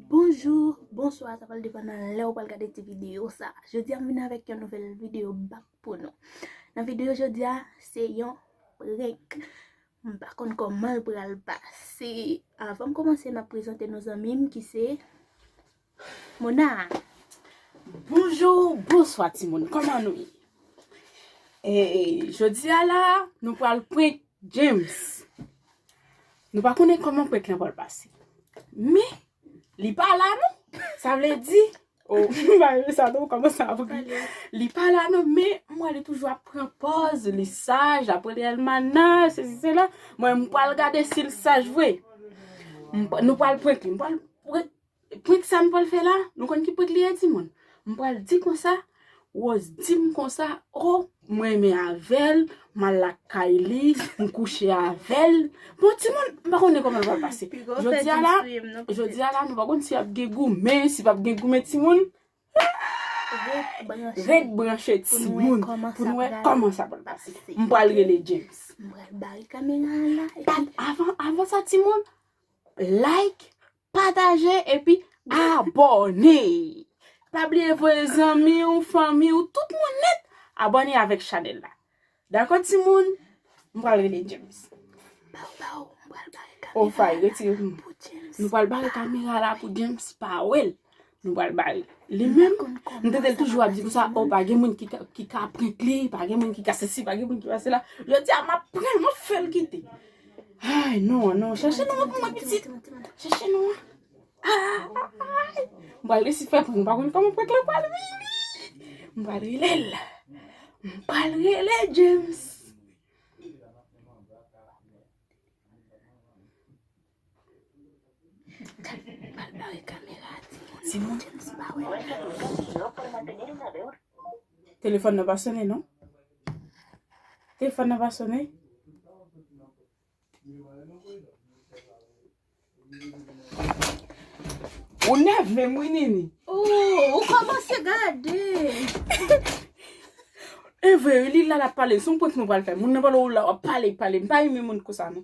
Bonjour, bonsoir, sa pral depan nan lè ou pral gade ti video sa. Jodi a m vin avèk yon nouvel video bak pou nou. Nan video jodi a, se yon prank. M pa konn koman l pral pase. Avan m komanse, m ap prezante nou zanmi m ki se... Mona Bonjou, bonswa timoun, kòman nou ye? Ee, jodi a la, nou pral prank James. Nou pa konnen kòman prank lan pral pase. Men, li pa la non. Sa vle di, o, m pa renmen sa non, m kòmanse ap ri. Li pa la non, men m wè li toujou ap pran pòz, li saj, l ap rele Elmana, sesi sela. Mwen m pral gade si l saj vre. Nou pral prank li, m pral prank. Prank sa m pral fè la, nou konn ki prank li ye timoun? M pral di konsa, Rose di m konsa, o, m renmen avè l, m al lakay li, m kouche avè l. Bon timoun, m pa konnen kòman l pral pase. Jodi a la, jodi a la nou pa konn si ap gen goumen, si pap gen goumen timoun. Ret branche timoun pou nou wè kòman sa pral pase. M pral rele James. M pral bare kamera an la. Avan sa timoun, like, Pataje epi abòne! Pa bliye voye zanmi w, fanmi w, tout moun nèt abòne avèk chanèl la. Dakò timoun? M pral rele James. Baw baw, m pral bare kamera la pou James pa wè l. Nou pral ba li. Li menm, m tande l toujou ap di konsa, o pa gen moun ki ka prank li, pa gen moun ki ka sesi, pa gen moun ki ka sela. Jodi a, m ap pran l, m ap fè l kite. Ay, non an, non an. Chèche non an pou mwen pitit. Chèche non an. Ay! M pral resi fè prank. M pa konn kòman prank lan pral vini. M pral rele l. M pral rele James. Telefòn nan pa sone non Telefòn nan pa sone Ou nève m wi Nini Ou kòmanse gade Evre li la l ap pale son prank nou pral fè Moun nan pale w la w ap pale pale M pa renmen moun konsa non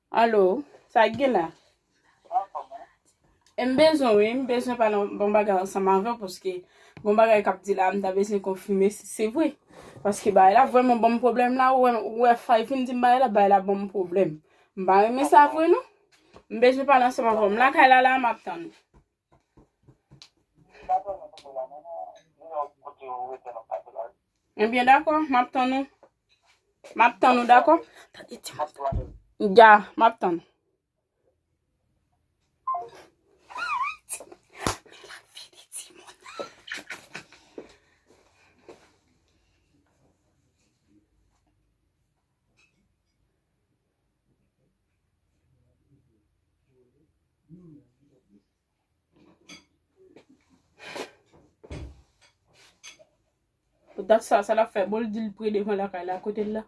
Allo sak gen la. M bezwen wi m bezwen pale yon bagay ansanm avèw paske gon bagay kap di la m ta bezwen konfime si se vre paske bagay la vreman banm problèm la ou wè fay poun dim bagay la bagay la banm problèm m pa renmen sa vre non m bezwen pale ansanm avèw m lakay la la map tann ou. Ebyen dakò, m ap tann ou. M ap tann ou dakò. Ya, m ap tann. Dat sa, sa la fè bol di l pre devan lakay la kote l la.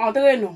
Entre nou.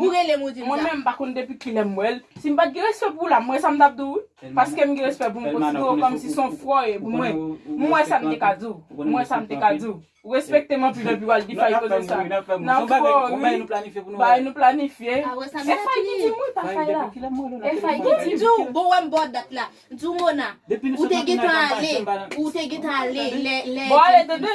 Ou relem ou dim sa. Mwen menm mpa konn depi kilè m wèl, si m pat gen respè pou w la m wè sa m tap di w wi, paske m gen respè pou m konsidere w kòmsi s on frè w ye pou mwen, m wè sa m te ka di w, m wè sa m te ka di w, ou respekte m anpil epi wal di Faye koze sa, nap fè w ri, bagay nou planifye, e Faye ki di m wi pa Faye la, e Faye ki di m. Di w bon wè m bo dat la, di w Mona, ou te gentan ale, ou te gentan ale lè, lè, bon ale tande,